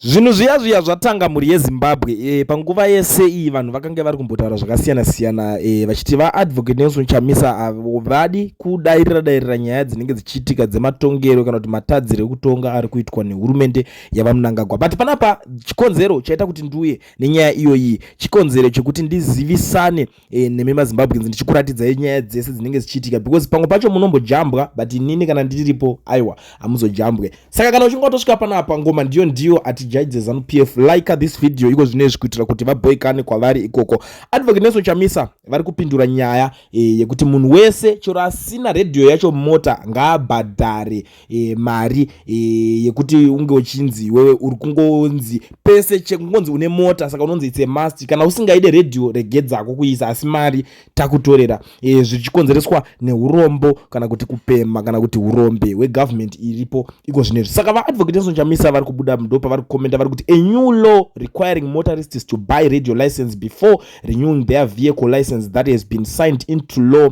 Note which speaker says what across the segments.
Speaker 1: Zvinhu zviya zviya zvatanga mhuri yeZimbabwe e, panguva yese iyi vanhu vakange vari kumbotaura zvakasiyana siyana e, vachiti vaAdvocate Nelson Chamisa havadi kudairira dairira nyaya dzinenge dzichiitika dzematongero kana kuti matadziro ekutonga ari kuitwa nehurumende yaVaMnangagwa but panapa chikonzero chaita kuti nduye nenyaya iyoyi chikonzero chekuti ndizivisane e, nemi mazimbabweans ndichikuratidzai nyaya dzese dzinenge dzichiitika because pamwe pacho munombojambwa but inini kana ndiripo aiwa hamuzojambwe saka kana uchinge watosvika panapa ngoma ndiyo ndiyo atijaidze zanu p f like this video iko zvino izvi kuitira kuti vaboikane kwavari ikoko advocate neso chamisa vari kupindura nyaya e, yekuti munhu wese chero asina redhiyo yacho mota ngaabhadhare e, mari e, yekuti unge uchinzi iwewe uri kungonzi pese chekungonzi une mota saka unonzi itse must kana usingaide radio regedzako kuisa asi mari takutorera e, zvichikonzereswa neurombo kana kuti kupemha kana kuti urombe hwegovernment iripo iko zvine izvi saka vaadvocate enson chamisa vari kubuda mudo pavari kukomenda vari kuti a new law requiring motorists to buy radio license before renewing their vehicle license that has been signed into law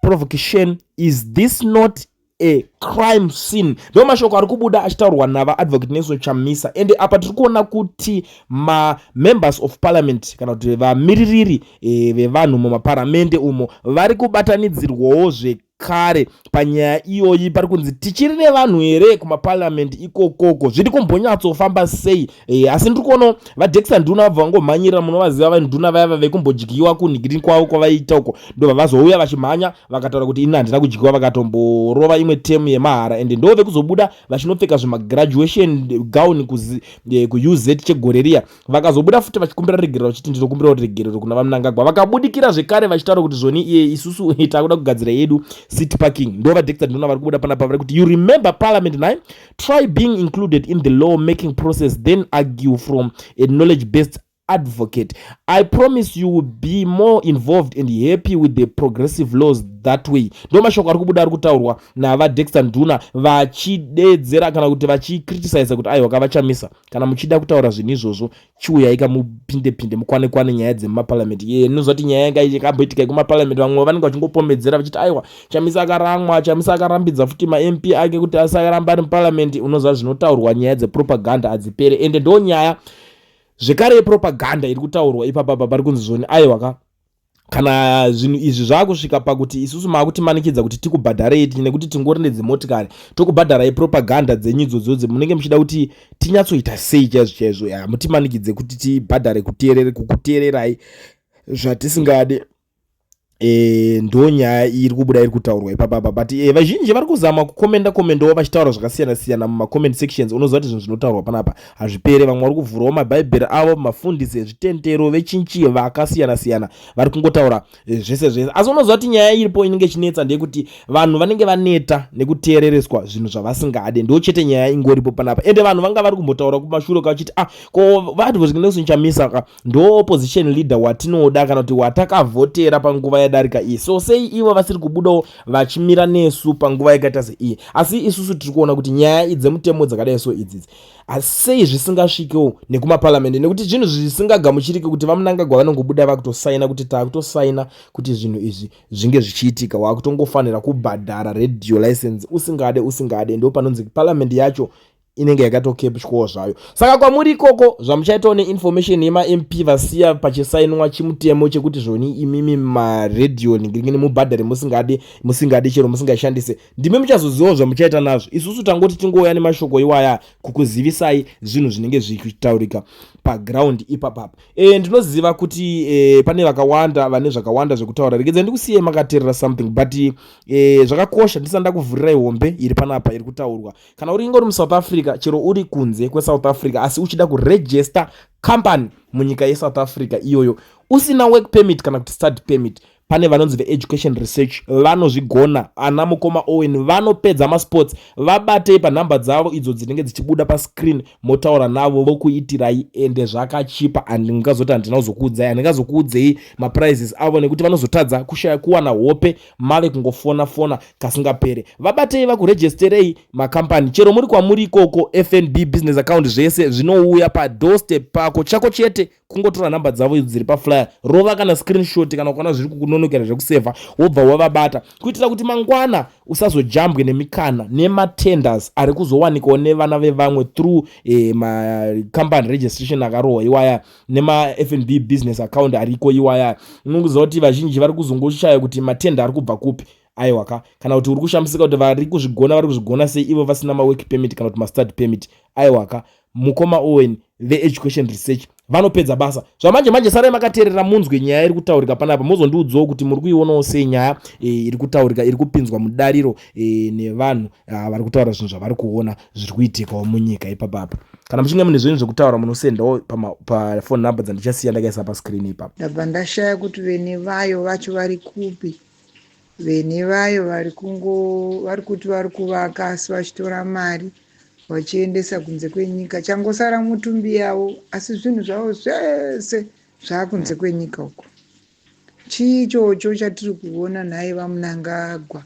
Speaker 1: provocation is this not a crime scene ndo mashoko ari kubuda achitaurwa navaadvocate nelson chamisa ende apa tiri kuona kuti mamembers of parliament kana kuti vamiririri e, vevanhu mumaparamende umo vari kubatanidzirwawo zvekare panyaya iyoyi pari kunzi tichiri nevanhu here kumaparliament ikokoko zviri kumbonyatsofamba sei Eh, asi ndiri kuonawo vadexta nduna vabva vangomhanyira munovaziva vanduna vaya vave kumbodyiwa kunhigini kwavo kwavaiita uko ndovavazouya vachimhanya vakataura kuti ini handina kudyiwa vakatomborova imwe temu yemahara ende ndove kuzobuda vachinopfeka zvemagraduation gown eh, kuuz chegore riya vakazobuda futi vachikumbira regerero vachiti ndinokumbirawo regerero kuna vamunangagwa vakabudikira zvekare vachitaura kuti zvoni iye eh, isusu takuda kugadzira yedu city parking ndovadexta nduna vari kubuda panapa vari kuti you remember parliament nine try being included in the law making process then argue from a knowledge based advocate i promise you will be more involved and happy with the progressive laws that way ndo mashoko ari kubuda ari kutaurwa navadexter nduna vachideedzera kana kuti vachicriticiza kuti aiwa kavachamisa kana muchida kutaura zvinhu izvozvo chiuyai kamupinde pinde mukwane kwane nyaya dzemumaparliament ye ndinoziva kuti nyaya yanga ikamboitika yekumaparliament vamwe vanenge vachingopomedzera vachiti aiwa chamisa akaramwa chamisa akarambidza futi mamp ake kuti asaramba ari muparliament unoziva zvinotaurwa nyaya dzepropaganda hadzipere ende ndo nyaya zvekare yepropaganda iri kutaurwa ipapa papa ri kunzi zvoni aiwa ka kana zvinhu izvi zvakusvika pakuti isusu maakutimanikidza kuti tikubhadharei nekuti tingori nedzimotikari tokubhadharai propaganda dzenyu idzodzodzi munenge muchida kuti tinyatsoita sei chaizvo chaizvo hamutimanikidze kuti tibhadhare kuteerere kukuteererai zvatisingade e, ndo nyaya iri kubuda iri kutaurwa ipapa pa but e, vazhinji vari kuzama kukomenda komendawo vachitaura zvakasiyana siyana mumacoment sections unoziva kuti zvinhu zvinotaurwa panapa Hazvipere, vamwe vari kuvhurawo maBhaibheri avo, mafundisi ezvitendero, vechinchi vakasiyana siyana, vari kungotaura eh, zvese zvese. Asi unoziva kuti nyaya iripo inenge ichinetsa ndeyekuti vanhu vanenge vaneta nekuteerereswa zvinhu zvavasingade, ndo chete nyaya ingoripo panapa. Ende vanhu vanga vari kumbotaura kumashure kavachiti ah, ko vati vozvingenesu nchamisa ka ndo opposition leader watinoda kana kuti watakavhotera panguva yadarika iyi, so sei ivo vasiri kubudawo vachimira nesu panguva yakaita seiyi? Asi isusu tiri kuona kuti nyaya idzi dzemutemo dzakadai so idzidzi asi sei zvisingasvikewo nekumaparamende nekuti zvinhu zvisingagamuchirike kuti vamunangagwa vanongobuda vakutosaina kuti takutosaina kuti zvinhu izvi zvinge zvichiitika wakutongofanira kubhadhara radio license usingade usingade ndo panonzi paramende yacho inenge yakatokepchwawo zvayo saka kwamuri ikoko zvamuchaitawo neinformation yemamp vasiya pachisainwa chimutemo chekuti zvoni imimi maradio ningingini mubhadhare musingadi musingadi chero musingashandise ndimi muchazozivawo zvamuchaita nazvo isusu tangoti tingouya nemashoko iwaya kukuzivisai zvinhu zvinenge zvichitaurika paground ipapapa e, ndinoziva kuti e, pane vakawanda vane zvakawanda zvekutaura regedza ndikusiyei makaterera something but e, zvakakosha ndisana ndakuvhurirai hombe iri panapa iri kutaurwa kana uri ingori musouth africa chero uri kunze kwesouth africa asi uchida kuregister company munyika yesouth africa iyoyo usina work permit kana kuti study permit pane vanonzi veeducation research vanozvigona ana mukoma owen vanopedza masports vabatei panhamba dzavo idzo dzinenge dzichibuda pascreen motaura navo vokuitirai ende zvakachipa and ndingazoti handina kuzokuudzai handingazokuudzei maprizes avo nekuti vanozotadza kushaya kuwana hope mave kungofona fona kasingapere vabatei vakuregisterei macompany chero muri kwamuri ikoko fnb business account zvese zvinouya padoorstep pako chako chete kungotora nhamba dzavo idzo dziri paflyer rova kana screenshot kana ukaona zviri kukunonokera zvekusevha wobva wavabata kuitira kuti mangwana usazojambwe nemikana nematenders ari kuzowanikawo nevana vevamwe through eh, macompany registration akarohwa iwaya nemafnb business account ariko iwaya unongoziva kuti vazhinji vari kuzongoshaya kuti matenda ari kubva kupi aiwa ka kana kuti uri kushamisika kuti vari kuzvigona vari kuzvigona sei ivo vasina mawork permit kana kuti mastad permit aiwa ka mukoma owen veeducation research vanopedza basa zvamanje manje sarai makateerera munzwe nyaya iri kutaurika panapa mozondiudzawo kuti muri kuionawo sei nyaya e, iri kutaurika iri kupinzwa mudariro e, nevanhu ah, vari kutaura zvinhu zvavari kuona zviri kuitikawo munyika ipapapa kana muchinge mune zvinhu zvekutaura munosendawo pafone number dzandichasiya ndakaisa pascreen ipapa ndabva ndashaya kuti
Speaker 2: vene vayo vacho vari kupi Veni vayo vari kungo vari kuti vari kuvaka asi vachitora mari vachiendesa kunze kwenyika changosara mutumbi yavo asi zvinhu zvavo zvese zvaakunze kwenyika uko chii ichocho chatiri kuona nhai vamunangagwa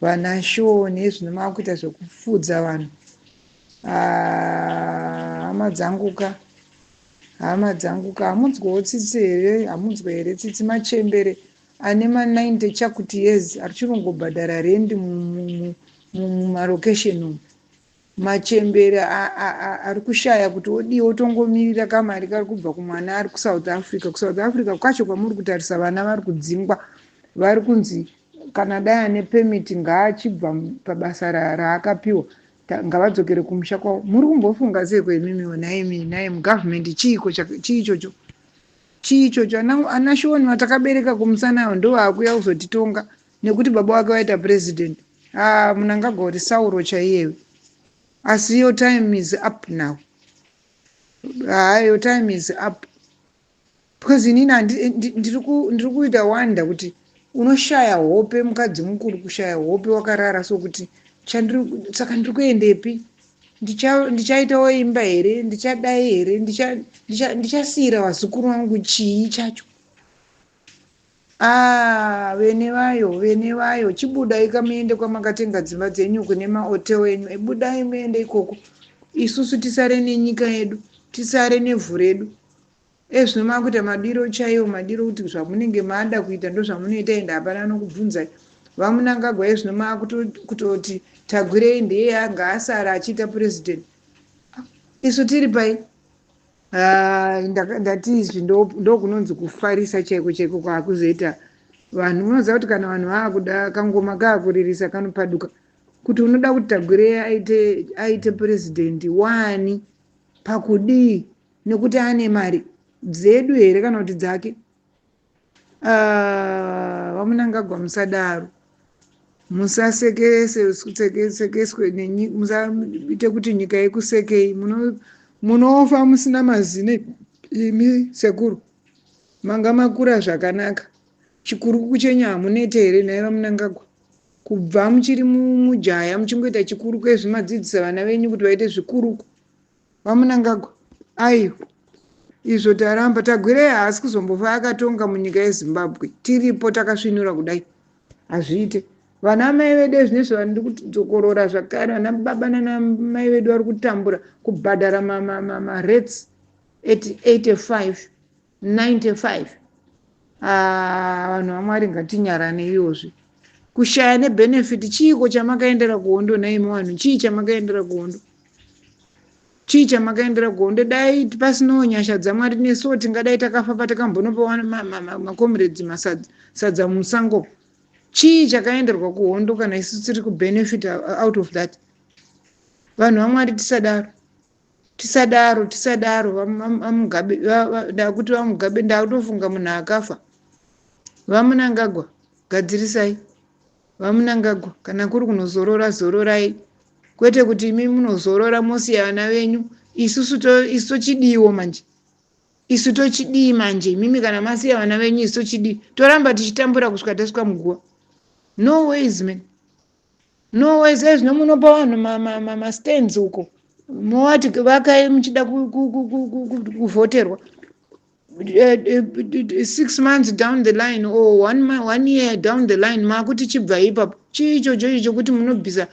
Speaker 2: vana shoo nezvino maakuita zvekufudza vanhu Ah, hama dzangu ka hama dzangu ka hamunzwewo tsitsi here hamunzwe here tsitsi machembere Ane ma 90 chakuti years archirungobhadhara rent mumarocation umu. Machembere arikushaya kuti odii otongomirira kamari kari kubva kumwana ari kuSouth Africa. KuSouth Africa kwacho kwamuri kutarisa vana vari kudzingwa vari kunzi kana dai ane permit ngaachibva pabasa raakapiwa ngavadzokere kumusha kwavo. Muri kumbofunga seiko imimiwo nhaimi nhaimi government chiiko chii ichocho? Chii ichocho ana ana Sean vatakabereka kumusana ava ndovakuya kuzotitonga nekuti baba wake waita president haa munangagwa uri sauro chaiyewe asi your time is up now haa your time is up because inini handi- ndi- ndiri ku- ndiri kuita wonder kuti Unoshaya hope mukadzi mukuru kushaya hope wakarara so kuti saka ndiri kuendepi ndichaitawo imba here ndichadai here ndichasiira vazukuru vangu chii chacho Ah, vene vayo vene vayo chibudai kamuende kwamakatenga dzimba dzenyu kune mahotel enyu ebudai muende ikoko isusu tisare nenyika yedu tisare nevhu redu Iye zvino makuita madiro chaiwo madiro kuti zvamunenge mada kuita ndozvamunoita ende hapana anokubvunzai. VaMunangagwa iye zvino makutoti Tagwirei ndiye anga asara achiita president isu tiri pai? Ah, ndaka- ndati izvi ndo- ndokunonzi kufarisa chaiko chaiko kwakuzoita vanhu unoziva kuti kana vanhu vakuda kangoma kakuririsa kanopaduka kuti unoda kuti tagwirei aite aite president wani pakudii Nekuti ane mari dzedu here kana kuti dzake? Ah, vamunangagwa musadaro musasekeswe musaite kuti nyika yekusekei munofa musina mazine imi sekuru manga makura zvakanaka chikurukuku chenyu hamunete here nhai vamunangagwa kubva muchiri mujaya muchingoita chikuruku ezvimadzidzisa vana venyu kuti vaite zvikuruku vamunangagwa aiwa izvo taramba tagwirei haasi kuzombofa akatonga munyika yezimbabwe tiripo takasvinura kudai hazviite vana mai vedu ezvinezvi vandi kudzokorora zvakare vana baba nanamai vedu vari kutambura kubhadhara marets 85 95 ah vanhu vamwari ngatinyarane iyozvi kushaya nebenefit chiiko chamakaendera kuhondo nhaimi vanhu chii chamakaendera kuhondo chii chamakaendera kuhondo dai pasinawo nyasha dzamwari nesuwo tingadai takafa patakambonopawa makomiredzi masadza musango chii chakaenderwa kuhondo kana isu tiri kubenefit out of that vanhu vamwari tisadaro tisadaro tisadaro vamugabe ndakuti vamugabe ndakutofunga munhu akafa vamunangagwa gadzirisai vamunangagwa kana kuri kunozorora zororai kwete kuti imi munozorora mosiya vana venyu isusu isu tochidiiwo manje isu tochidii manje imimi kana masiya vana venyu isu tochidii toramba tichitambura kusvika tasvika muguva no ways man Norway says zvino munopa vanhu mastands uko mowati vakai muchida kuvhoterwa eh, eh, six months down the line or one, one year down the line makuti chibvai ipapo chii ichocho icho chokuti munobvisa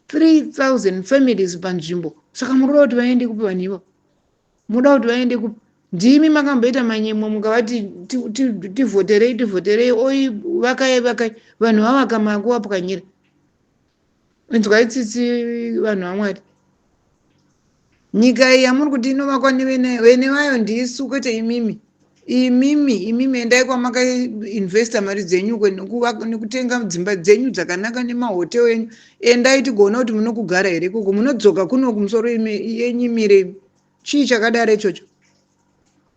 Speaker 2: 3000 families panzvimbo saka murikuda kuti vaende kupi vanhu ivo moda kuti vaende kupi ndimi makamboita manyemwa mukavati ti- ti- tivhoterei tivhoterei oi vakai vakai vanhu vavaka makuvapwanyira inzwai tsitsi vanhu vamwari nyika iyi yamuri kuti inovakwa nevene vene vayo ndisu kwete imimi imimi imimi endai kwamakainvesta mari dzenyu uko nekuvaka nekutenga dzimba dzenyu dzakanaka nemahotel enyu endai tigoona kuti munokugara here ikoko munodzoka kuno kumusoro yenyimire imi chii chakadaro ichocho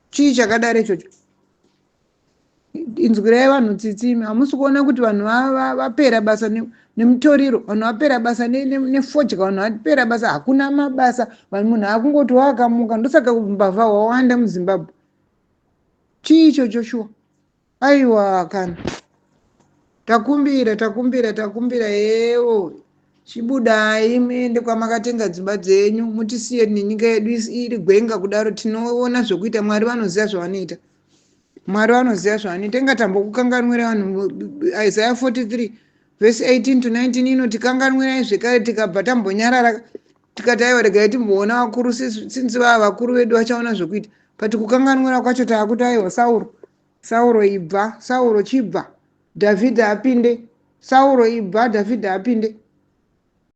Speaker 2: chii chakadaro ichocho inzwirai vanhu tsitsi imi hamusi kuona kuti vanhu vapera basa nemutoriro vanhu vapera basa nefodya vanhu vapera basa hakuna mabasa vanhu munhu akungotiwakamuka ndosaka mbavha hwawanda muzimbabwe chii icho joshua aiwa kana takumbira takumbira takumbira yewo chibudai muende kwamakatenga dzimba dzenyu mutisiye nenyika yedu is- iri gwenga kudaro tinoona zvekuita mwari vanoziva zvavanoita mwari vanoziva zvavanoita ingatambokukanganwira vanhu isaya 43 Vhesi 18 to 19 inoti, Kanganwirai zvekare tikabva tambonyarara tikati aiwa regai timboona vakuru since vava vakuru vedu vachaona zvekuita but kukanganwira kwacho taakuti aiwa sauro sauro ibva sauro chibva dhavhidha apinde sauro ibva dhavhidha apinde